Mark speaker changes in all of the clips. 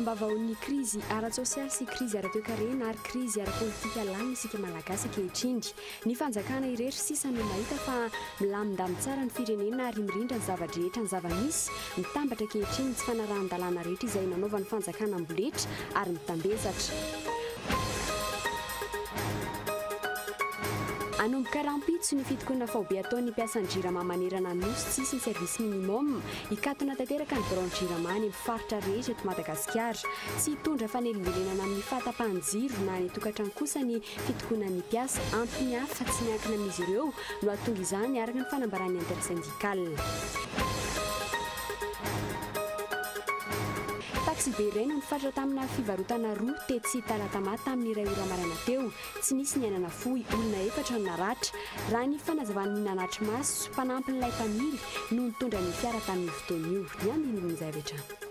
Speaker 1: Ambavahoan'ny krizy ara-tsosialy sy krizy ara-toekarena ary krizy ara-politika lany isika Malagasy ankehitriny. Ny fanjakana irery sisa no mahita fa milamindamy tsara ny firenena ary mirindra ny zava-drehetra ny zava-misy, mitambatra ankehitriny ny tsy fanarahan-dalàna rehetra izay nanaovan'ny fanjakana amboletra ary mitambesatra. Hanomboka rahampitso ny fitokonana faobe ataon'ny mpiasan'ny Jirama manerana ny Nosy tsy hisy ny service minimum, hikatona tanteraka ny biraon'ny Jirama any amin'ny faritra rehetra eto Madagasikara. Tsy hitondra fanelingelenana amin'ny fahatapahan-jiro na any an-tokantrano kosa ny fitokonana ny mpiasa, antony hafa tsy miankina amin'izy ireo no hahatonga izany, araka ny fanambaran'ny Intersyndicale. Taksibe iray no nifaritra tamina fivarotana roa tetsy Talatama tamin'ny iray ora maraina teo. Tsy nisy ny aina nafoy, olona efatra no naratra. Raha ny fanazavan'ny nanatri-maso, mpanampin'ilay mpamily no nitondra ny fiara tamin'io fotoana io. Ny andinindin'izay avy hatrany.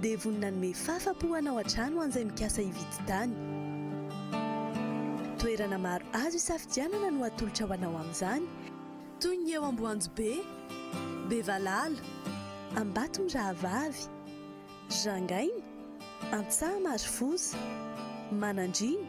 Speaker 2: dia vonona hanome fafa-po hanao hatrany ho an'izay mikasa hividy tany. Toerana maro azo hisafidianana no atolotra ho anao amin'izany, toy ny eo Amboanjobe, Bevalala, Ambatomirahavavy, Jangaina, Antsaha-Marofoza, Manandriana,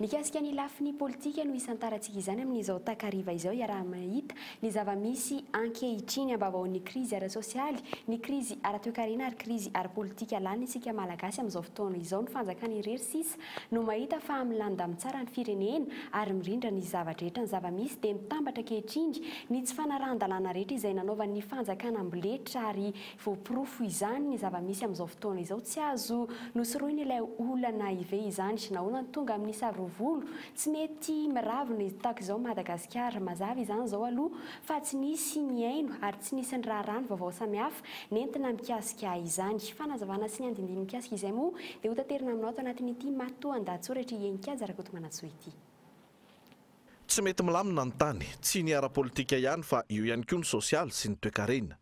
Speaker 1: Mikasika ny lafiny politika no hisantarantsika izany amin'izao takariva izao hiaraha-mahita ny zava-misy ankehitriny ambavahoan'ny krizy ara-tsosialy, ny krizy ara-toekarena ary krizy ara-politika lany isika Malagasy amin'izao fotoana izao ny fanjakana irery sisa no mahita fa milamindamy tsara ny firenena ary mirindra ny zavatra rehetra ny zava-misy dia mitambatra ankehitriny ny tsy fanarahan-dalàna rehetra izay nanaovan'ny fanjakana amboletra ary Voaporofo izany ny zava-misy amin'izao fotoana izao, tsy azo nosorohina ilay olana hive izany. Nahoana no tonga amin'ny sarovolo? Tsy mety miravo ny taok izao Madagasikara. Mazava izany izao aloha fa tsy nisy nihaino ary tsy nisy niraharaha ny vaovao samihafa nentina mikasika izany. Fanazavana sy ny andindiny mikasika izay moa dia hotaterina aminao ato anatin'ity matoandahatsoratr'i Heninkaja Rakotomanantsoa ity.
Speaker 3: Tsy mety milamina ny tany, tsy ny ara-politika ihany fa eo ihany koa ny sosialy sy ny toekarena.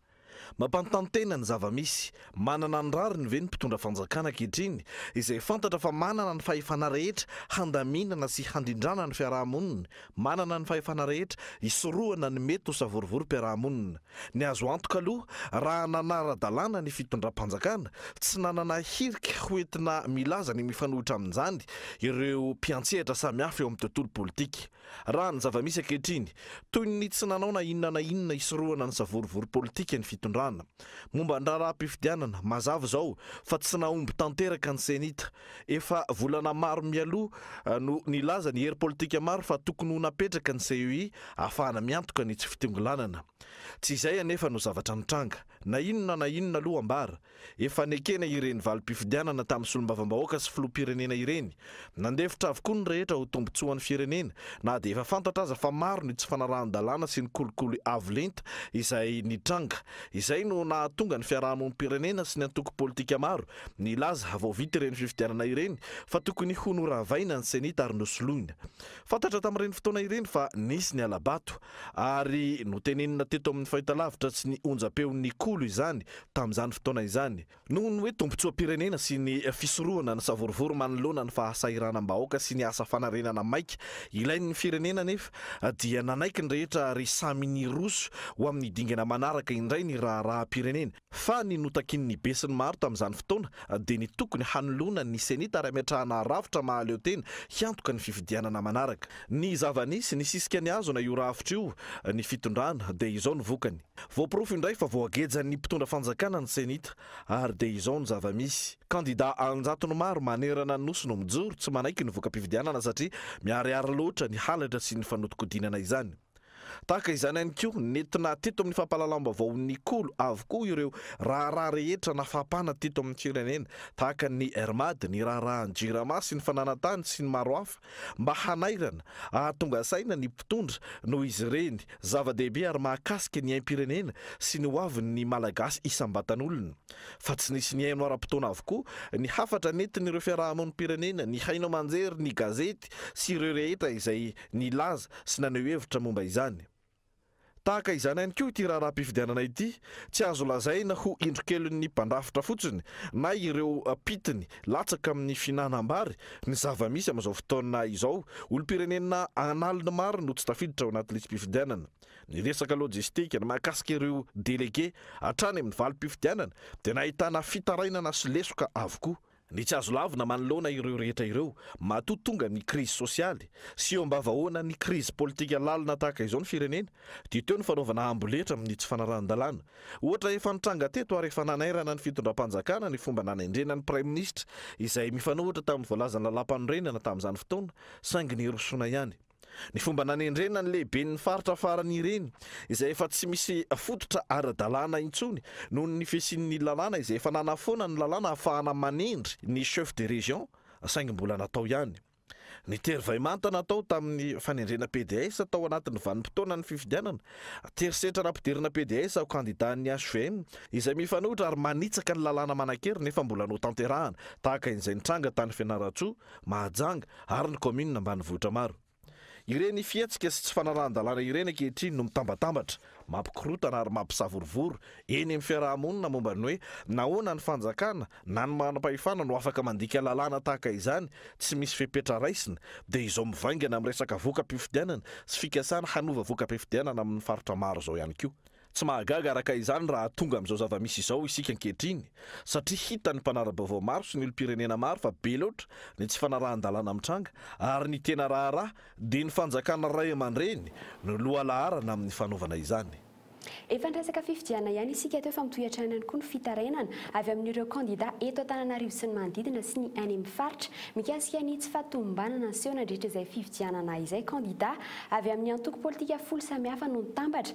Speaker 3: Mampanontany tena ny zava-misy. Manana ny rariny ve ny mpitondra fanjakana ankehitriny, izay fantatra fa manana ny fahefana rehetra handaminana sy handrindrana ny fiaraha-monina, manana ny fahefana rehetra hisorohana ny mety ho savorivorim-piaraha-monina? Ny azo antoka aloha, raha nanara-dalàna ny fitondram-panjakana, tsy nanana hirika hoentina milaza ny mifanohitra amin'izany ireo mpiantsehatra samihafa eo amin'ny tontolo politika. Raha ny zava-misy ankehitriny, toy ny tsy nanao na inona na inona hisorohana ny savorovoro politika ny fitondrana. Momba ny raharaham-pifidianana, mazava izao fa tsy nahomby tanteraka ny Cenit. Efa volana maro mialoha no nilaza ny hery politika maro fa tokony ho napetraka ny CEI ahafahana miantoka ny tsy fitongilanana. Tsy izay anefa no zavatra nitranga. Na inona na inona aloha ambara, Efa nekena ireny valim-pifidianana tamin'ny solombavambahoaka sy filoham-pirenena ireny. Nandefitra avokoa ny rehetra ho tombontsoan'ny firenena, na dia efa fantatra aza fa maro ny tsy fanarahan-dalàna sy ny kolikoly avo lenta izay nitranga. Izay no nahatonga ny fiarahamonim-pirenena sy ny antoko politika maro nilaza vao vita ireny fifidianana ireny fa tokony ho noravaina ny Cenit ary nosoloina. Fantatra tamin'ireny fotoana ireny fa nisy ny hala-bato ary notenenina teto amin'ny fahitalavitra sy ny onjam-peon'ny Kolo izany tamin'izany fotoana izany, noho ny hoe tombontsoam-pirenena sy ny fisorohana ny savorovoro manoloana ny fahasahiranam-bahoaka sy ny asa fanarenana maika ilain'ny firenena anefa dia nanaiky ny rehetra ary samy niroso ho amin'ny dingana manaraka indray ny raharaham-pirenena fa ny notakin'ny besinimaro tamin'izany fotoana dia ny tokony hanoloana ny Cenit ary hametrahana rafitra mahaleotena hiantoka ny fifidianana manaraka. Ny zava-nisy, nisisika nihazona io rafitra io ny fitondrana dia izao ny vokany. Voaporofo indray fa voagejan'ny mpitondra fanjakana ny Cenit ary dia izao ny zava-misy, kandida an-jatony maro manerana ny Nosy no mijoro tsy manaiky ny voka-pifidianana satria miharihary loatra ny halatra sy ny fanodinkodinana izany. Tahaka izany ihany koa, nentina teto amin'ny fampahalalam-baovao Nikolo avokoa ireo raharaha rehetra nafapana teto amin'ny firenena tahaka ny Airmad, ny raharahan'ny Jirama sy ny fananantany sy ny maro hafa. mba hanairana, hahatonga saina ny mpitondra noho izy ireny zava-dehibe ary mahakasika ny aim-pirenena sy ny hoavin'ny Malagasy isam-batan'olona. Fa tsy nisy nihaino ara-potoana avokoa ny hafatra nentin'ireo fiarahamonim-pirenena nihaino aman-jery ny gazety sy ireo rehetra izay nilaza sy naneho hevitra momba izany. Tahaka izany ihany koa ity raharaham-pifidianana ity, tsy azo lazaina ho indrokelin'ny mpandrafitra fotsiny na ireo mpitiny latsaka amin'ny fihinanam-bary ny zava-misy amin'izao fotoana izao. Olom-pirenena an'aliny maro no tsy tafiditra ao anaty lisi-pifidianana. Ny resaka lojistika, ny mahakasika ireo delege hatrany amin'ny valim-pifidianana dia nahitana fitarainana sy lesoka avokoa. Ny tsy azo lavina manoloana ireo rehetra ireo, matoa tonga ny krizy sosialy sy eo am-bavahoana ny krizy politika lalina tahaka izao ny firenena, dia teo ny fanaovana amboletra amin'ny tsy fanarahan-dalàna. Ohatra efa nitranga teto ary efa nanairana ny fitondram-panjakana ny fomba nanendrena ny praiminisitra, izay mifanohitra tamin'ny voalazan'ny lalàmpanorenana tamin'izany fotoana, saingy nirosoana ihany. ny fomba nanendrena ny lehiben'ny faritra farany ireny izay efa tsy misy fototra ara-dalàna intsony noho ny fisian'ny lalàna izay efa nanafoana ny lalàna hahafahana manendry ny chef de région saingy mbola natao ihany ny tery vay manta natao tamin'ny fanendrena PDS tao anatin'ny vanim-potoanan'ny fifidianana tery setra nampidirina PDS ho kandidan'ny hvm izay mifanohitra ary manitsaka ny lalàna manan-kery nefa mbola notanterahana tahaka izay nitranga tany Fianarantsoa Mahajanga ary ny kaominina ambanivohitra maro. Ireny fihetsika sy tsy fanarahan-dalàna ireny ankehitriny no mitambatambatra, mampikorontana ary mampisavorovoro eny amin'ny fiaraha-monina momba ny hoe nahoana ny fanjakana na ny manam-pahefana no afaka mandika lalàna tahaka izany tsy misy fepetra raisina dia izao mivaingana amin'ny resaka voka-pifidianana sy fikasana hanova voka-pifidianana amin'ny faritra maro izao ihany koa. Tsy mahagaga araka izany raha tonga amin'izao zava-misy izao isika ankehitriny, satria hitan'ny mpanara-baovao maro sy ny olom-pirenena maro fa be loatra ny tsy fanarahan-dalàna mitranga, ary ny tena raharaha dia ny fanjakana ray aman-dreny no lohalaharana amin'ny fanaovana izany. Efa niresaka
Speaker 1: fifidianana ihany isika teo fa mitohy hatrany ihany koa ny fitarainana avy amin'ireo kandida eto Antananarivo sy ny manodidina sy ny any amin'ny faritra mikasika ny tsy fahatomombanana niseho nandritra izay fifidianana izay. Kandida avy amin'ny antoko politika folo samihafa no nitambatra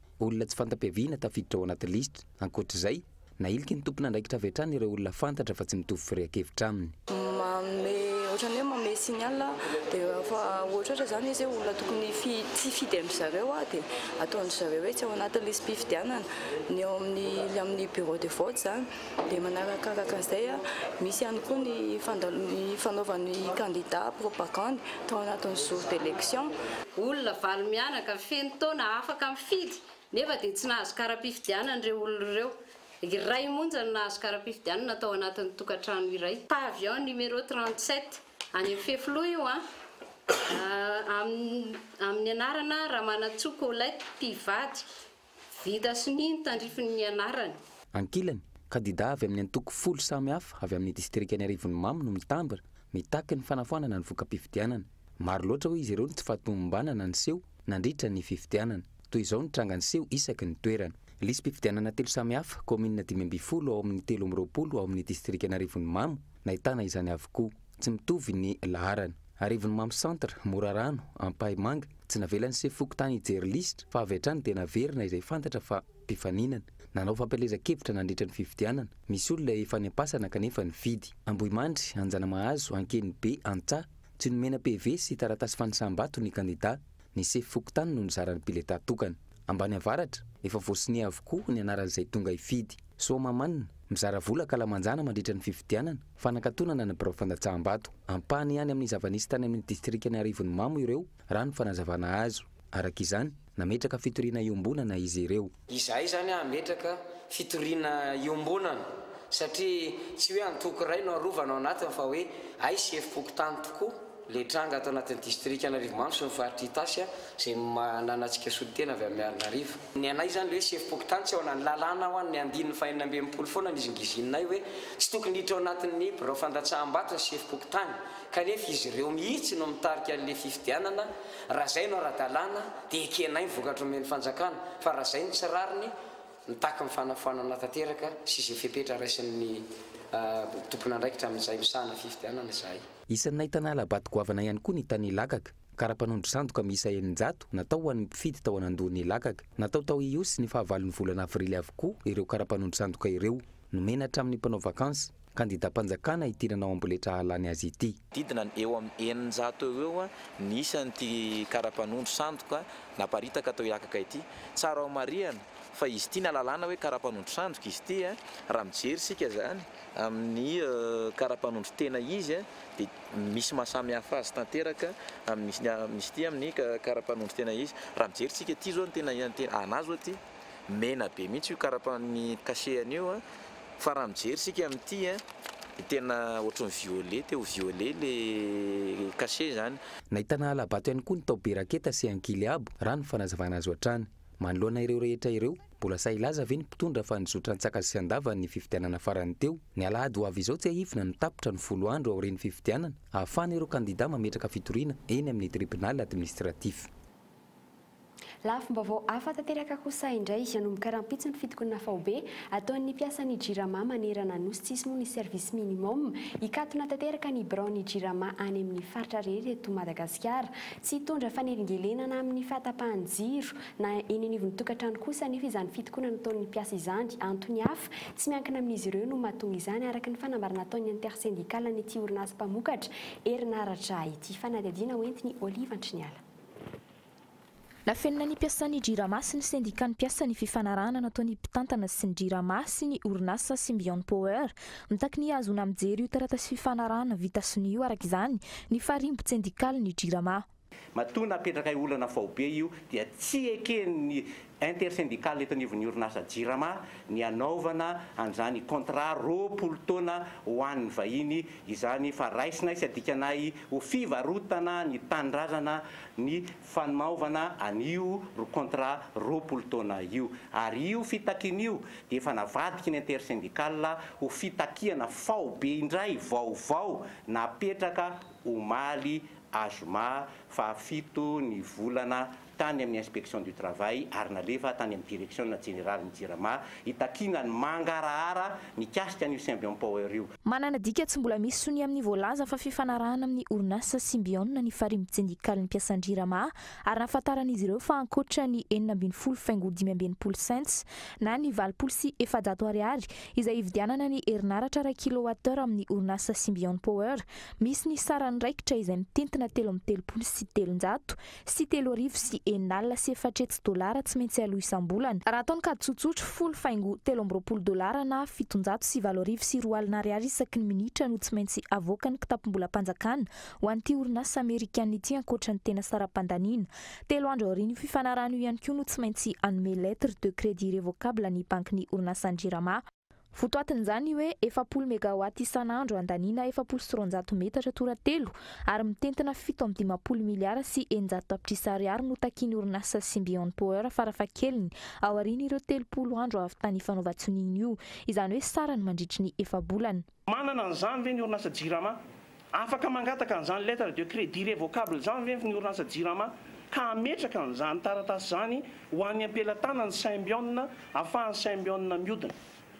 Speaker 4: Olona tsy fanta-piaviana tafiditra ao anaty lisitra. Ankoatra izay, nahiliky ny tompon'andraikitra avy hatrany ireo olona fantatra fa tsy mitovy firehan-kevitra aminy. Manome
Speaker 5: ohatran'ny hoe manome signal dia rehefa ohatrohatra izany izy hoe olona tokony tsy hifidy an-dry zareo dia ataon-dry zareo hoe tsy ao anatin'ny lisi-pifidianana. Ny ao amin'ny amin'ny bureau de vote izany. Dia manarakaraka an'izay, misy ihany koa ny fanaovan'ny kandida propagandy tao anatin'ny jour d'election. Olona valo
Speaker 6: mianaka, feno taona, afaka mifidy, nefa dia tsy nahazo kara-pifidianana ireo olona ireo. Iray monja no nahazo kara-pifidianana tao anatin'ny tokantrano iray. Pavillon numéro 37, any amin'ny fefiloha io an! Amin'ny anarana Ramanantsoa Colette, mpivady. Vita sonia ny tandrifiny nianarany. Ankilany,
Speaker 4: kandidà avy amin'ny antoko folo samy hafa avy amin'ny distrikan'i Arivonimamo no mitambatra, mitaky ny fanafoanana ny voka-pifidianana. Maro loatra hoy izy ireo ny tsy fahatomombanana niseho nandritra ny fifidianana. Toy izao ny tranga niseho isaky ny toerana. Lisi-pifidianana telo samy hafa, kaominina dimy ambin'ny folo ao amin'ny telo amby roapolo ao amin'ny distrikan'i Arivonimamo, nahitana izany avokoa. Tsy mitovy ny laharana. Arivonimamo Centre, Morarano, Ampahimanga, Tsy navelan'ny sefo fokontany hijery lisitra fa avy hatrany dia naverina izay fantatra fa mpifaninana. Nanao fampielezan-kevitra nandritra ny fifidianana. Misy olona efa any am-pasana kanefa nifidy. Ambohimandry, Anjanamahazo, Ankenibe, Antsaha. Tsy nomena PV sy taratasy fanisam-bato ny kandidà. Ny sefo fokontany no nizara ny biletà tokana. Ambaniavaratra, Efa voasonia avokoa ny anaran'izay tonga hifidy. Soamahamanina, Mizara vola an-kalamanjana mandritra ny fifidianana. Fanakatonana ny birao fandatsaham-bato. Ampahany ihany amin'ny zava-nisy tany amin'ny distrikan'i Arivonimamo ireo, raha ny fanazavana azo. Araka izany, nametraka fitoriana iombonana izy ireo. Izahay izany
Speaker 7: hametraka fitoriana iombonana, satria tsy hoe antoko iray no arovana ao anatiny fa hoe hay sy efi-pokontany tokoa. Ilay tranga ato anatin'ny distrikan'Arivomamo sy ny faritr'i Itasy izay manana antsika solontena avy amin'ny Marinarivo. Ny anay izany ilay hoe sefom-pokontany tsy ao anatin'ny lalàna ho an'ny andininy fahenina ambin'ny folo foana nizingizininay hoe tsy tokony hiditra ao anatin'ny birao fandatsaham-bato ny sefom-pokontany kanefa izy ireo mihitsy no mitarika an'ilay fifidianana raha izay no ara-dalàna dia ekenay ny vokatra omen'ny fanjakana fa raha izay no tsy rariny mitaky ny fanafoanana tanteraka sy izay fepetra raisin'ny tompon'andraikitra amin'izay misahana fifidianana izahay. Isan'ny nahitana halabato
Speaker 4: goavana ihany koa ny tany Ilakaka. Kara-panondro sandoka miisa eninjato natao ho an'ny mpifidy tao Anandoana Ilakaka. Natao tao Ihosy ny fahavalon'ny volana avrily avokoa ireo kara-panondro sandoka ireo. Nomena hatramin'ny mpanao vakansy, kandidam-panjakana ity nanao amboletra hahalany azy ity. Didina ny eo amin'ny
Speaker 8: eninjato eo ho eo ny isan'ity kara-panondro sandoka naparitaka tao Ilakaka ity. Tsara homarihana fa izy ity na lalàna hoe kara-panondro sandoka izy ity raha mijery isika izany Amin'ny karapanondro-tena izy dia misy maha samy hafa azy tanteraka amin'ny misy ity amin'ny karapanondro-tena izy. Raha mijery tsika ity zao ny tena anah zao ity mena be mihitsy io karapan'ny cachet-ny io fa raha mijery tsika amin'ity dia tena ohatran'ny violet te ho violet le cachet zany. Nahitana hala-bato
Speaker 4: ihany koa ny tao Beraketa sy Ankileabo, raha ny fanazavana azo hatrany. Manoloana ireo rehetra ireo, mbola sahy hilaza ve ny mpitondra fa nizotra an-tsakasy sy an-davany ny fifidianana farany teo? Ny alahady ho avy izao tsiahivina no tapitra ny folo andro aorian'ny fifidianana, hahafahana ireo kandidà mametraka fitoriana eny amin'ny tribonaly administratif. Lafim-baovao
Speaker 1: hafa tanteraka kosa indray, hanomboka rahampitso ny fitokonana faobe ataon'ny mpiasan'ny Jirama manerana Nosy tsisy moa ny service minimum, hikatona tanteraka ny biraon'ny Jirama any amin'ny faritra rehetra eto Madagasikara. Tsy hitondra fanelingelenana amin'ny fahatapahan'ny jiro na eny anivon'ny tokantrano kosa anefa izany fitokonana ataon'ny mpiasa izany. Antony hafa, tsy miankina amin'izy ireo no mahatonga izany, araka ny fanambarana ataon'ny Intersyndical-n'ity orinasa mpamokatra herinaratra ity. Fanadihadiana hoentin'i Olive Antriniala.
Speaker 9: Nafenina ny mpiasan'ny Jirama sy ny Sendikan'ny mpiasa ny fifanarahana nataon'ny mpitantana sy ny Jirama sy ny orinasa Symbion Power Mitaky ny hahazoana mijery io taratasy fifanarahana vita sonia io araka izany ny farimbon-tsendikaly ny Jirama. Matoa napetrakay
Speaker 10: olana faobe io dia tsy eken'ny Intersyndical eto anivon'ny orinasa Jirama ny hanaovana an'izany contrat roapolo taona ho an'ny vahiny izany fa raisinay sy adikanay ho fivarotana ny tanindrazana ny fanaovana an'io contrat roapolo taona io ary io fitakiana io dia efa navadiky ny intersyndical ho fitakiana faobe indray vaovao napetraka omaly azoma faha fito ny volana tany amin'ny inspection du travail ary nalefa tany amin'ny direction jeneralin'ny jirama hitakiana ny mangarahara mikasika an'io symbion power io. Manana dika tsy mbola
Speaker 9: misy sonia amin'ny voalaza fa fifanarahana amin'ny orinasa Symbion ny Farihy Sendikalin'ny Mpiasan-dRirama ary nahafantaran'izy ireo fa ankoatra ny enina ambin'ny folo faingo dimy amby enimpolo cents na ny valopolo sy efajato ariary izay hividianana ny herinaratra iray kilowattheure amin'ny orinasa Symbion Power misy ny saran'ny raikitra izay mitentina telo amby telopolo sy telonjato sy telo arivo sy enina alina sy efatra hetsy dolara tsy maintsy aloa isam-bolana, raha atao ny kajy tsotsotra, folo faingo telo amby roapolo dolara na fitonjato sy valo arivo sy roa alina ariary isaky ny minitra no tsy maintsy avoakan'ny kitapom-bolam-panjakana ho an'ity orinasa amerikana ity ankoatra ny tena saram-pandaniana. Telo andro aorian'io fifanarahana io ihany koa no tsy maintsy hanome lettre de crédit révocable ny bankin'ny orinasan-dRirama. Votoatin'izany hoe efapolo megawatts isan'andro andaniana efapolo sy roanjato metatra toratelo ary mitentina fito amby dimampolo miliara sy eninjato tapitrisa ariary no takian'ny orinasa Symbion Power farafahakeliny aorian'ireo telopolo andro avy tany fanaovan-tsonian'io, izany hoe sarany mandritry ny efa-bolana. Manana an'izany ve
Speaker 10: ny orinasa Jirama? Afaka mangataka an'izany lettre de crédit revocable izany ve ny orinasa Jirama ka hametraka an'izany taratasy izany ho an'ny ampelatanan'ny Symbion afahan'ny Symbion miodina?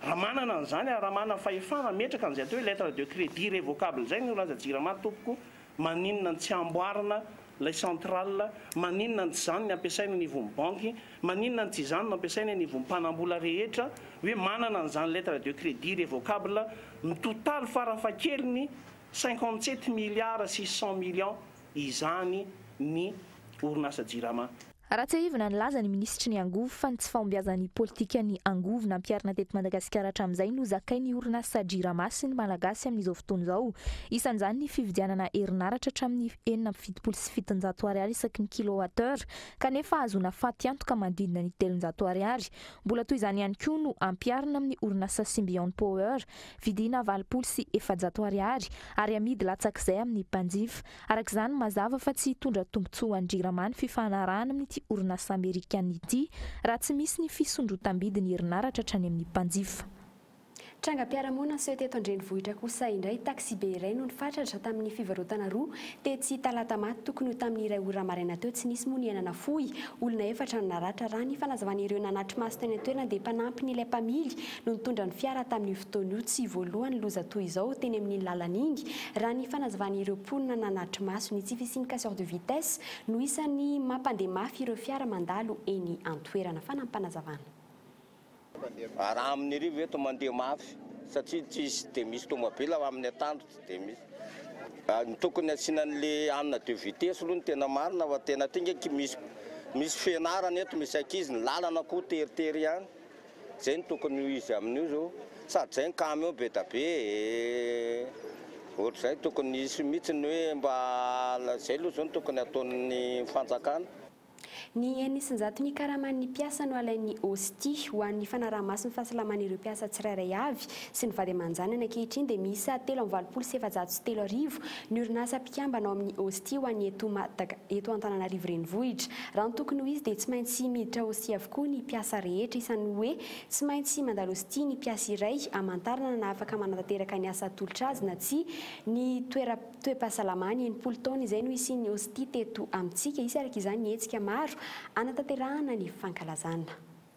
Speaker 10: Raha manana an'izany ary raha manana fahefana hametraka an'izay atao hoe lettre de crédit revocable izay ny orinasa Jirama tompoko Maninona no tsy amboarina ilay centrale? Maninona no tsy izany no ampiasaina any ivon'ny banky? Maninona no tsy izany no ampiasaina any ivon'ny mpanambola rehetra? Hoe manana an'izany lettre de credit revocable mitotaly farafahakeliny cinquante sept milliards six cent millions izany ny orinasa Jirama? Raha tsiahivina,
Speaker 9: nilaza ny minisitry ny angovo fa ny tsy fahombiazan'ny politikan'ny angovo nampiharina teto Madagasikara hatramin'izay no zakain'ny orinasa Jirama sy ny Malagasy amin'izao fotoana izao. Isan'izany ny fividianana herinaratra hatramin'ny enina amby fitopolo sy fitonjato ariary isaky ny kilowatt-heure kanefa hahazoana fatiantoka manodidina ny telonjato ariary. Mbola toy izany ihany koa no ampiharina amin'ny orinasa Symbion Power vidiana valopolo sy efajato ariary ary amidy latsak'izay amin'ny mpanjifa. Araka izany, mazava fa tsy hitondra tombontsoa ho an'ny Jirama ny fifanarahana amin'ity orinasa amerikanina ity raha tsy misy ny fisondrotam-bidin'ny herinaratra hatrany amin'ny mpanjifa. Trangam-piarahamonina
Speaker 1: niseho teto an-drenivohitra kosa indray, taksibe iray no nifatratra tamin'ny fivarotana roa tetsy Talata maty tokony ho tamin'ny iray ora maraina teo, tsy nisy moa ny aina nafoy, olona efatra no naratra raha ny fanazavan'ireo nanatri-maso teny an-toerana dia mpanampin'ilay mpamily no nitondra ny fiara tamin'io fotoana io tsy voalohany loza toy izao teny amin'iny lalana iny raha ny fanazavan'ireo mponina nanatri-maso ny tsy fisian'ny casseur de vitesse no isan'ny mampandeha mafy ireo fiara mandalo eny an-toerana fanampanazavana.
Speaker 11: Raha amin'irivy eto mandeha mafy satria tsisy dia misy tomabila fa amin'ny atoandro tsy dia misy. Ny tokony asiana an'le hanina de vitesse aloha no tena marina fa tena ity nge misy misy fianarana eto misy ankizy ny lalana koa teritery ihany. Zay no tokony ho izy amin'io zao sady zay ny camion be da be e! ohatr'izay tokony hisy mihitsy ny hoe mba zay aloha zao no tokony hataon'ny fanjakana. Ny
Speaker 1: eny isan-jato ny karaman'ny mpiasa no alain'ny OSTI ho an'ny fanaraha-maso ny fahasalaman'ireo mpiasa tsirairay avy sy ny vady aman-janany ankehitriny dia miisa telo amby valopolo sy efajato sy telo arivo ny orinasa mpikambana ao amin'ny OSTI ho an'ny eto Antananarivo Renivohitra Raha ny tokony ho izy dia tsy maintsy miditra hostie avokoa ny mpiasa rehetra, isan'ny hoe tsy maintsy mandalo hostie ny mpiasa iray hamantarana na afaka manatanteraka ny asa atolotra azy na tsia ny toeram-toe-pahasalamany, enimpolo taona izay no hisian'ny hostie teto amintsika, hisy araka izany ny hetsika maro hanatanterahana ny fankalazana.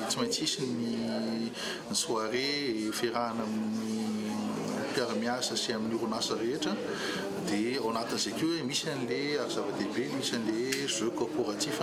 Speaker 12: Tsy maintsy hisy ny soirée iferahana amin'ny mpiara-miasa sy amin'ny orinasa rehetra dia ao anatin'izay koa misy an'ilay ary zava-dehibe misy an'ilay jeu corporatif.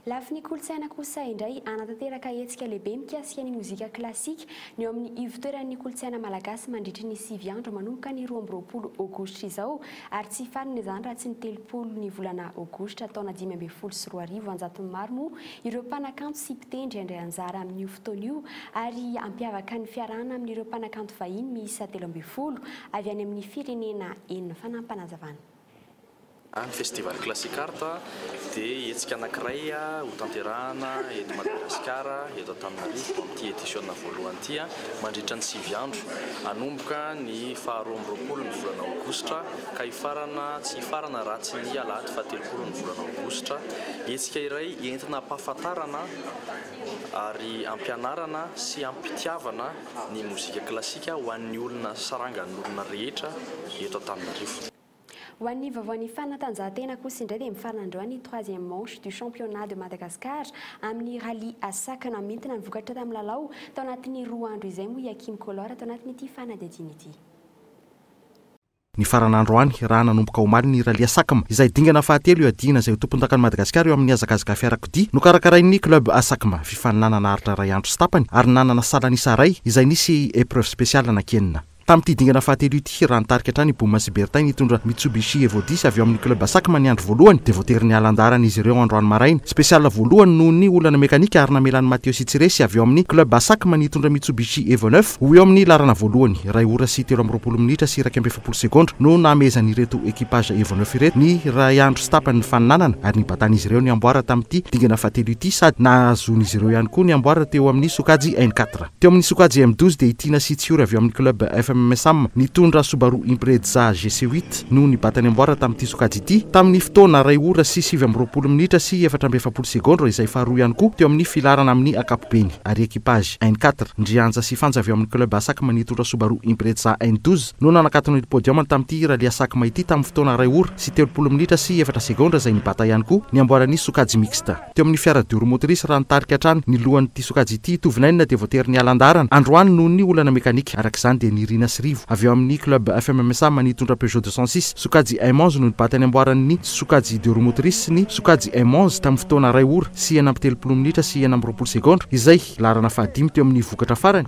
Speaker 12: Lafiny
Speaker 1: kolontsaina kosa indray, hanatanteraka hetsika lehibe mikasika ny mozika klasika ny eo amin'ny ivotoeran'ny kolontsaina malagasy mandritry ny sivy andro manomboka ny roa amby roapolo aogositra izao ary tsy hifarina izany raha tsy ny telopolo ny volana aogositra taona dimy ambin'ny folo sy roa arivo, anjatony maro moa ireo mpanakanto sy mpitendry handray anjara amin'io fotoana io ary hampiavaka ny fiarahana amin'ireo mpanakanto vahiny miisa telo ambin'ny folo avy any amin'ny firenena enina fanampanazavan'.
Speaker 13: Ny Festival Classic Art dia hetsika anankiray hotanterahana eto Madagasikara, eto Antananarivo, amin'ity edisiona voalohany ity, mandritra ny sivy andro, hanomboka ny faha roa amby roapolo ny volana aogositra ka hifarana tsy hifarana raha tsy ny alahady faha telopolo ny volana aogositra. Hetsika iray entina ampahafantarana ary ampianarana sy ampitiavana ny mozika klasika ho an'ny olona sarangan'olona rehetra eto Antananarivo. Ho an'ny
Speaker 1: vaovaon'ny fanatanjahantena kosa indray dia mifarana androany ny troisième manche du championnat de Madagascar amin'ny rallye à sac namintina ny vokatra tamin'ny lalao tao anatin'ny roa andro izay moa i Hakim Kolor ato anatin'ity fanadihadiana ity.
Speaker 14: Nifarana androany, raha nanomboka omaly ny Rallye Sacm, izay dingana fahatelo iadiana izay ho tompondakan'i Madagasikara eo amin'ny hazakazaka fiarakodia, nokarakarain'ny Club Asacm, fifaninanana aritra iray andro sy tapany, ary nanana salan'isa iray, izay nisy épreuve spéciale anankienina. Tamin'ity dingana fahatelo ity, raha nitarika hatrany i Bouma sy Bertin nitondra Mitsubishi Evo dix avy ao amin'ny Club Asacm ny andro voalohany, dia voatery niala an-daharana izy ireo androany maraina, spéciale voalohany noho ny olana mekanika ary namela an'i Mathieu sy Tsiresy avy ao amin'ny Club Asacm nitondra Mitsubishi Evo neuf, Ho eo amin'ny laharana voalohany, iray ora sy telo amby roapolo minitra sy iraika amby efapolo segondra no nahamehezan'ireto equipage Evo Neuf ireto ny iray andro sy tapany ny faninanana ary nibatan'izy ireo ny amboara tamin'ity dingana fahatelo ity sady nahazoan'izy ireo ihany koa ny amboara teo amin'ny sokajy N quatre. Teo amin'ny sokajy M douze dia i Tiana sy Tsiory avy ao amin'ny club FMMSAM nitondra Subaru Impreza GC huit no nibata ny amboara tamin'ity sokajy ity tamin'ny fotoana iray ora sy sivy amby roapolo minitra sy efatra amby efapolo segondra izay faharoa ihany koa teo amin'ny filaharana amin'ny ankapobeny ary equipage N quatre, ndry Anja sy Fanja avy ao amin'ny Club Asak Manitsotra Subaru Impreza N douze no nanakatona ity podium tamin'ity rallye Asak-ma ity tamin'ny fotoana iray ora sy telopolo minitra sy efatra segondra izay nibata ihany koa ny amboaran'ny sokajy mixte teo amin'ny fiara Duru Motrice raha nitarika hatrany ny lohan'ity sokajy ity ito vinainina dia voatery niala an-daharana androany noho ny olana mekanika araka izany dia nirina sy rivo avy ao amin'ny Club FMMSA Manitsotra Peugeot deux cent six sokajy Aimons no nibata ny amboaran'ny sokajy Duromotrice sy ny sokajy Emmons tamin'ny fotoana iray ora sy enina amby telopolo minitra sy enina amby roapolo segondra, izay laharana fahadimy teo amin'ny vokatra farany.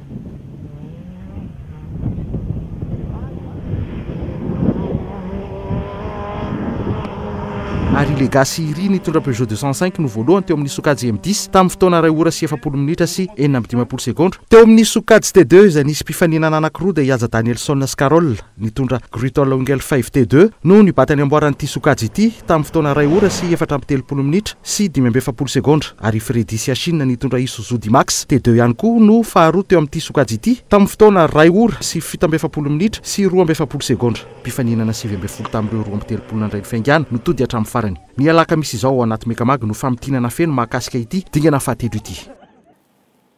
Speaker 14: ary i Legacy Iri nitondra Peugeot deux cent cinq no voalohany teo amin'ny sokajy M dix tamin'ny fotoana iray ora sy efapolo minitra sy enina amby dimampolo segondra. Teo amin'ny sokajy T deux izay nisy mpifaninana anankiroa dia i Haja Danielson sy Carol. Nitondra Grütol Ungel Five T Deux no nibata ny amboaran'ity sokajy ity tamin'ny fotoana iray ora sy efatra amby telopolo minitra sy dimy amby efapolo segondra ary i Freddy Siachine nitondra Isuzu D-Max T Deux ihany koa no faharoa teo amin'ity sokajy ity tamin'ny fotoana iray ora sy fito amby efapolo minitra sy roa amby efapolo segondra. Mpifaninana sivy ambin'ny folo tamin'ireo roa amby telopolo nandray ny fiaingàna no tody hatramin'ny farany. Ny alakamisy izao ao anaty Mecamag no famintinana feno mahakasika ity dingana fahatelo ity.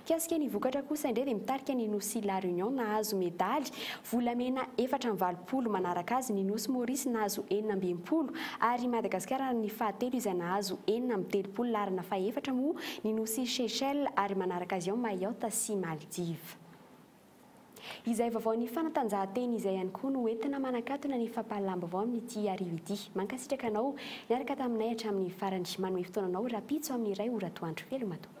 Speaker 1: Mikasika ny vokatra kosa indray dia mitarika ny Nosy La Réunion nahazo medaly volamena efatra amby valopolo manaraka azy, ny Nosy Maurice nahazo enina amby enimpolo ary i Madagasikara ny fahatelo izay nahazo enina amby telopolo laharana fahefatra moa ny Nosy Seychelles ary manaraka azy ao Mayotte sy Maldives. Izay vaovaon'ny fanatanjahantena izay ihany koa no entina manakatona ny fampahalalam-baovao amin'ity hariva ity. Mankasitraka anao niaraka taminay hatramin'ny farany. Manome fotoana anao rahampitso amin'ny iray ora atoandro. Veloma tompoko.